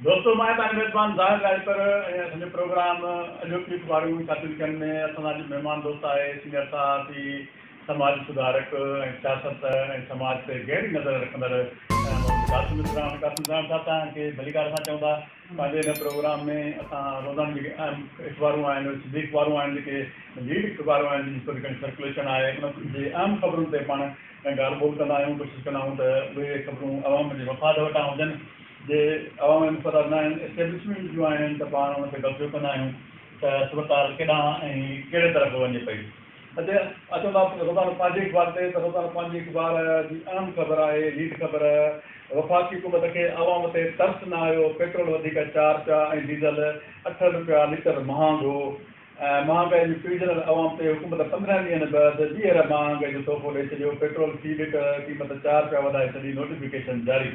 دوستو مان تان ميزبان ظاهر راڄپر ۽ اسان جو پروگرام اڄوڪي اخبارون ڇاپيلکن ۾ اسان سان اڄ مهمان دوست آهي سينئر صحافي سماجي سڌارڪ ۽ سياست ۽ سماج تي گهري نظر رکندڙ محمد قاسم اسران قاسم اسران صاحب تان کي ڀليڪار اسان چئون ٿا پنهنجي هن پروگرام ۾ اسان روزانو جيڪي اهم اخبارون آهن سنڌي اخبارون آهن جيڪي ليڊ اخبارون آهن جن جي ٿوري گهڻي سرڪوليشن آهي ان جي اهم خبرن تي پاڻ ڳالهه ٻولهه ڪندا آهيون ڪوشش ڪندا آهيون ته اهي خبرون عوام جي مفاد وٽان هجن. جي عوام انفراد نه آهن، اسٽيبلشمينٽ جون آهن ته پاڻ ان تي قبضو ڪندا آهيون ته اسپتال ڪيڏانهن ۽ ڪهڙي طرف وڃي پئي. هتي اچو ٿا روزانو پنهنجي اخبار تي ته روزانو پنهنجي اخبار جي اهم خبر آهي ليڊ خبر وفاقي حڪومت کي عوام تي ترس نه آيو، پيٽرول وڌيڪ چار رپيا ۽ ڊيزل اٺ رپيا ليٽر مهانگو ۽ مهانگائي جي پيڙجندڙ عوام تي حڪومت پندرهن ڏينهن بعد ٻيهر مهانگائي جو تحفو ڏئي ڇڏيو، پيٽرول في ليٽر قيمت چار رپيا وڌائي ڇڏي نوٽيفڪيشن جاري.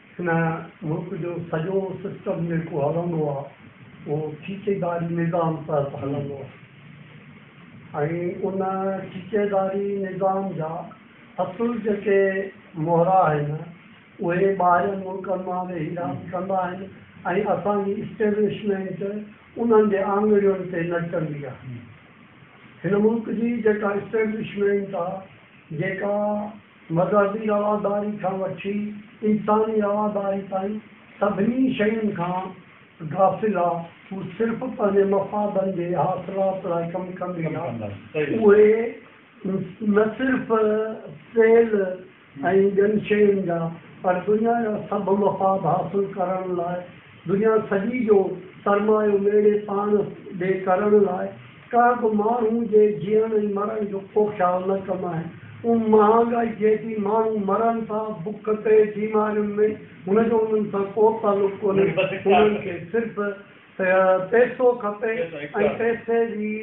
هن ملڪ جو سڄو سسٽم جيڪو هلندو آهي اهو ٺيڪيداري نظام تحت هلندو آهي ۽ ان ٺيڪيداري نظام جا اصل جيڪي مهرا آهن اهي ٻاهرين ملڪن مان ويهي راند ڪندا آهن ۽ اسان جي اسٽيبلشمينٽ انهن جي آڱرين تي نچندي آهي. هن ملڪ جي جيڪا اسٽيبلشمينٽ آهي جيڪا. مذهبي رواداري کان وٺي انساني رواداري تائين سڀني شين کان غافل آ، هو صرف پنهنجي مفادن جي حاصلات لاء ڪم ڪندي آ، اهي نه صرف تيل ۽ ٻين شين جا پر دنيا جا سڀ مفاد حاصل ڪرڻ لاء دنيا سڄي جو سرمايو ٻيڙي پاڻ ڏي ڪرڻ لاء ڪا به ماڻهو جي جيئڻ ۽ مرڻ جو ڪو خيال نه ڪم آهي. ان مهانگائي جيڏي ماڻهو مرن ٿا، بک تي، بيمارين ۾، هن جو انهن سان ڪو تعلق ڪونهي. هنن کي صرف پئسو کپي ۽ پئسي جي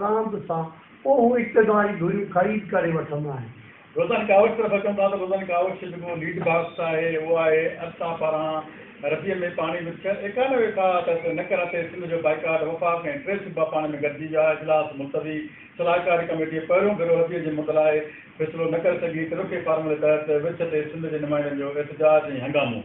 راند سان، اهو اقتداري ڌريون خريد ڪري وٺندا آهن. روزان ڪاوش طرف اچون ٿا ته روزان ڪاوش جو جيڪو ليڊ باڪس آهي اهو آهي ارسا پاران رديء ۾ پاڻي وڇ ايڪانوي ويٺا تحت نڪرا تي سنڌ جو بائيڪاٽ وفاق ۽ ٽي صوبا پاڻي ۾ گڏجي ويا اجلاس ملتوي صلاحڪاري ڪميٽي پهريون ڀيرو رديء جي مد لاء فيصلو نه ڪري سگهي ترڪي فارمولي تحت وڇ تي سنڌ جي نمائندن جو احتجاج ۽ هنگامو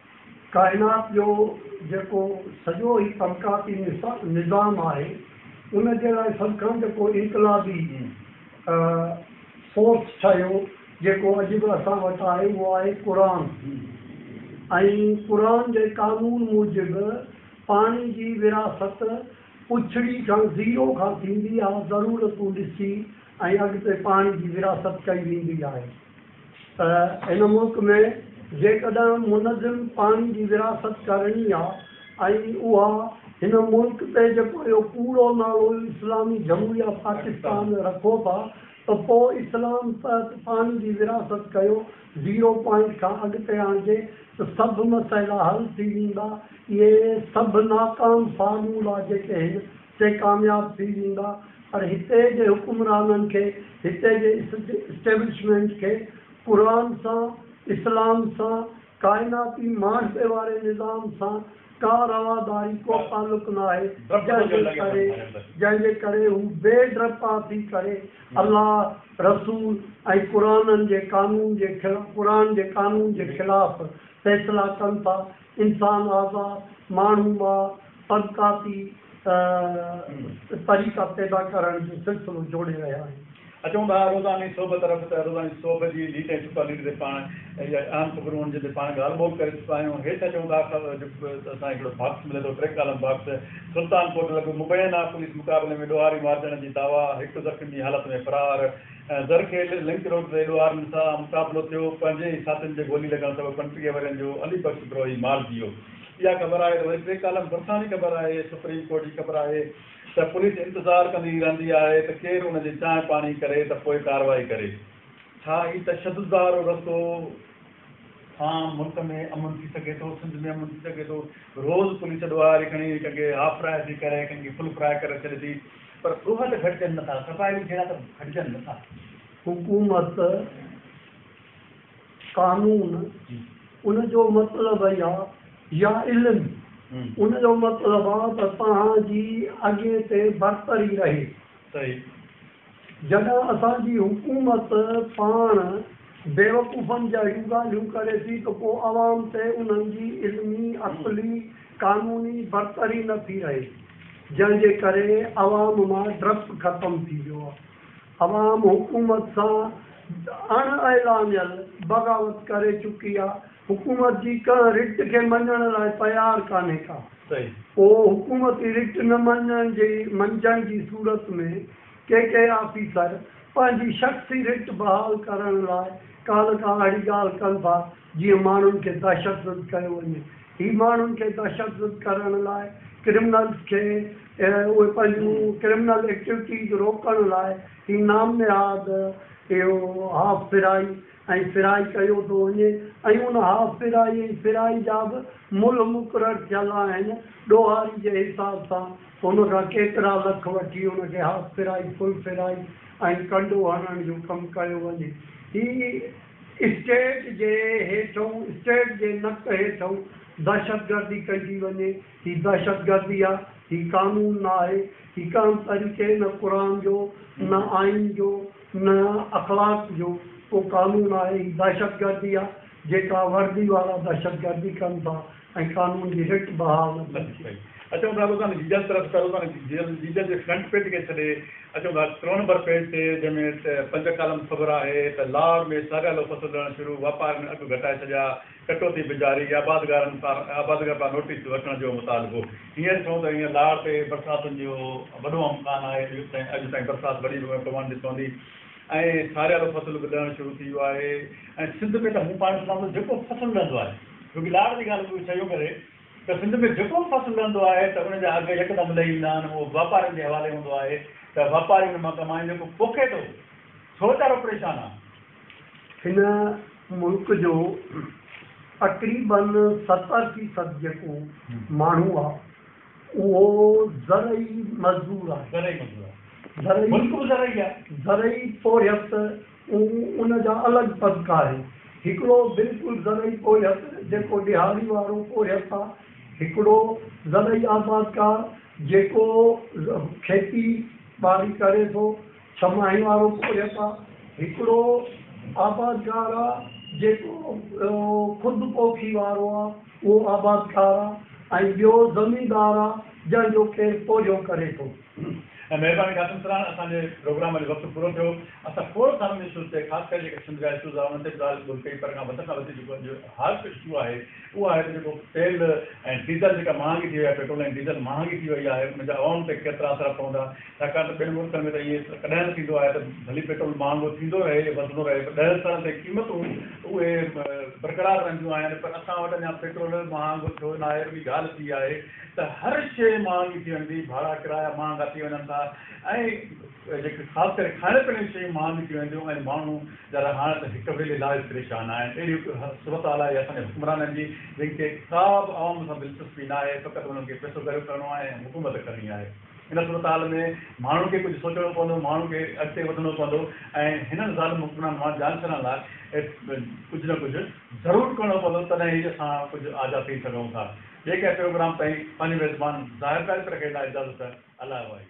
ڪائنات جو جيڪو سڄو هي طبقاتي نظام آهي ان جي لاء سڀ کان جيڪو انقلابي فورس ٺهيو جيڪو اڄ به اسان وٽ آهي اهو آهي قرآن ۽ قرآن جي قانون موجب پاڻي جي وراثت پڇڙي کان زيرو کان ٿيندي آهي ضرورتون ڏسي ۽ اڳتي پاڻي جي وراثت ڪئي ويندي آهي. ته هن ملڪ ۾ جيڪڏهن منظم پاڻي جي ورهاست ڪرڻي آ ۽ اها هن ملڪ تي جيڪو اهو ڪوڙو نالو اسلامي جمهوريه پاڪستان رکو ٿا ته پوء اسلام تحت پاڻي جي ورهاست ڪيو زيرو پوائنٽ کان اڳتي آڻجي ته سڀ مسئلا حل ٿي ويندا اهي سڀ ناڪام فارمولا جيڪي هن تي ڪامياب ٿي ويندا پر هتي جي حڪمرانن کي هتي جي اسٽيبلشمينٽ کي قرآن سان اسلام سان ڪائناتي معاشري واري نظام سان ڪا رواداري ڪو تعلق ناهي جنهن جي ڪري جنهن جي ڪري هو بي ڊپا ٿي ڪري الله رسول ۽ قرآنن جي قانون جي قرآن جي قانون جي خلاف فيصلا ڪن ٿا انسان اعضاء، ماڻهو مان طبقاتي طريقا پيدا ڪرڻ جو سلسلو جوڙي رهيا آهن. اچون ٿا روزاني سوڀ طرف ته روزاني سوڀ جي ليڊ ۽ سپر ليڊ تي پاڻ اهي اهم خبرون هن جن تي پاڻ ڳالهه ٻولهه ڪري چڪا آهيون. هيٺ اچون ٿا ته اسان کي هڪڙو باڪس ملي ٿو track column box Sultan Kot لڳ مبينا پوليس مقابلي ۾ ڏوهاري مارجڻ جي دعويٰ هڪ زخمي حالت ۾ فرار، زرخيل لنڪ روڊ تي ڏوهاري ن سان مقابلو ٿيو، پنهنجي ئي ساٿين جي گولي لڳڻ سبب پنٽيهه ورهين جو علي بخش بروهي مارجي ويو. اها خبر آهي ته وري ٽي ڪالم ڀرسان جي خبر آهي، سپريم ڪورٽ جي خبر آهي ته پوليس انتظار ڪندي رهندي آهي ته ڪير ان جي چانهه پاڻي ڪري ته پوء ڪارروائي ڪري. ڇا هي تشدد وارو رستو. سان ملڪ ۾ امن ٿي سگهي ٿو سنڌ ۾ امن ٿي سگهي ٿو روز پوليس ڏوهه واري کڻي ڪن کي هاف فراء ٿي ڪري ڪن کي فل فراء ڪري ڇڏي ٿي پر ڏوهه ته گهٽجن نه ٿا صفائي به جهيڙا ته گهٽجن نه ٿا. حڪومت قانون ان جو مطلب اهي آ يا علم ان جو مطلب آ ته توهان جي اڳين تي برتري رهي. صحيح. جڏهن اسان جي حڪومت پاڻ بيوقوفن جهڙيون ڳالهيون ڪري ٿي ته پوء عوام تي انهن جي علمي، عقلي، قانوني برتري نه ٿي رهي جنهن جي ڪري عوام مان ڊپ ختم ٿي ويو آهي. عوام حڪومت سان اڻ اعلانيل بغاوت ڪري چڪي آهي. حڪومت جي ڪنهن رٽ کي مڃڻ لاء تيار ڪانهي ڪا. پوء حڪومتي رٽ نه مڃڻ جي منجهن جي صورت ۾ ڪي ڪي آفيسر پنهنجي شخصي رٽ بحال ڪرڻ لاء ڪانه ڪا اهڙي ڳالهه ڪن ٿا جيئن ماڻهن کي دهشتزد ڪيو وڃي. هي ماڻهن کي دهشتزد ڪرڻ لاء ڪرمنلز کي اهي پنهنجون ڪرمنل ايڪٽويٽيز روڪڻ لاء هي نام نهاد اهو هاف پھرائي، ۽ ڦيرائي ڪيو ٿو وڃي ۽ ان ها ڦيرائي ۽ ڦيرائي جا به ملهه مقرر ٿيل آهن، ڏوهاري جي حساب سان هن کان ڪيترا لک وٺي ان کي هاف ڦيرائي، فل ڦيرائي ۽ ڪنڊو هڻڻ جو ڪم ڪيو وڃي. هي اسٽيٽ جي هيٺئون، اسٽيٽ جي نڪ هيٺئون دهشتگردي ڪئي ٿي وڃي. هي دهشتگردي آ، هي قانون نه آهي، هي ڪا هم طريقي نه قرآن جو، نه آئين جو، نه اخلاق جو ڪو قانون آهي، هي دهشتگردي آ جيڪا وردي وارا دهشتگردي ڪن ٿا ۽ قانون جي رٽ بحال نه ٿيندي. صحيح اچون ٿا روزان جيجل طرف ته روزان جيجل جيجل جي فرنٽ پيج کي ڇڏي اچون ٿا ٽيون نمبر پيج تي جنهن ۾ پنج ڪالم خبر آهي ته لاهور ۾ ساريالو فصل لهڻ شروع واپار ۾ اگهه گهٽائي ڇڏيا، ڪٽوتي پجاري، آبادگارن پار آبادگار پار نوٽيس وٺڻ جو مطالبو هينئر ڇو ته هينئر لاڙ تي برساتن جو وڏو امڪان آهي اڄ تائين اڄ تائين برسات وڏي به پوڻ ڏي پوندي ۽ ٺاريل فصل به لهڻ شروع ٿي ويو آهي ۽ سنڌ ۾ ته مون پاڻ سمجهان ٿو جيڪو فصل لهندو آهي ڇو ڪي لاڙ جي ڳالهه به ڇا اهو ڪري ته سنڌ ۾ جيڪو به فصل لهندو آهي ته ان جا اگهه يڪدم لهي ويندا آهن اهو واپارين جي حوالي هوندو آهي ته واپاري ان مان ڪمائين جيڪو پوکي ٿو سو ويچارو پريشان آهي. هن ملڪ جو تقريبن ستر فيصد جيڪو ماڻهو آ اهو زرعي مزدور آهي. زرعي مزدور آهي. زرعي ملڪ به زرعي آ. زرعي پورهيت ۽ ان جا الڳ طبقا آهن. هڪڙو بلڪل زرعي پورهيت جيڪو ڏهاڙي وارو پورهيت آ. هڪڙو زرعي آبادگار جيڪو کيتي ٻاري ڪري ٿو. ڇهه ماهي وارو پورهيت آ. هڪڙو آبادگار آ جيڪو خود پوکي وارو آ اهو آبادگار آ ۽ ٻيو زميندار آ جنهن جو ڪير پورهيو ڪري ٿو. مهرباني قاسم سران اسان جي پروگرام جو وقت پورو ٿيو اسان کوڙ سارن اشوز تي خاص ڪري جيڪي سنڌ جا اشوز آ انهن تي به ڳالهه ٻولهه ڪئي پر کان وڌ کان وڌ جيڪو اڄ هاٽ اشو آهي اهو آهي ته جيڪو تيل ۽ ڊيزل جيڪا مهانگي ٿي وئي آهي، پيٽرول ۽ ڊيزل مهانگي ٿي وئي آهي، ان جا عوام تي ڪيترا اثر پوندا، ڇاڪاڻ ته ٻين ملڪن ۾ ته ائين ڪڏهن نه ٿيندو آهي ته ڀلي پيٽرول مهانگو ٿيندو رهي، وڌندو رهي پر ڏهن سالن تائين قيمتون اهي برقرار رهنديون آهن پر اسان وٽ اڃا پيٽرول مهانگو ٿيو ناهي، اهڙي ڳالهه ٿي آهي ته هر شيء مهانگي ٿي وڃي ٿي، ڀاڙا ڪرايا مهانگا ٿي وڃن ٿا ۽. جيڪي خاص ڪري کائڻ پيئڻ جون شيون مهانگيون ٿيون وينديون ۽ ماڻهو جڏهن هاڻ ته هڪ ويلي لاء به پريشان آهن. اهڙي صورتحال آهي اسان جي حڪمرانن جي جن کي ڪا به عوام سان دلچسپي ناهي فقط انهن کي پئسو گهريو ڪرڻو آهي ۽ حڪومت ڪرڻي آهي. ان صورتحال ۾ ماڻهن کي ڪجهه سوچڻو پوندو، ماڻهن کي اڳتي وڌڻو پوندو ۽ هنن ظالم حڪمرانن مان جان ڇڏڻ لاء ڪجهه نه ڪجهه ضرور ڪرڻو پوندو تڏهن ئي اسان ڪجهه آزاد ٿئي سگهون ٿا. ٻئي ڪنهن پروگرام تائين پنهنجو ميزبان ظاهر تاريخ رکي لاء اجازت. الله واحد.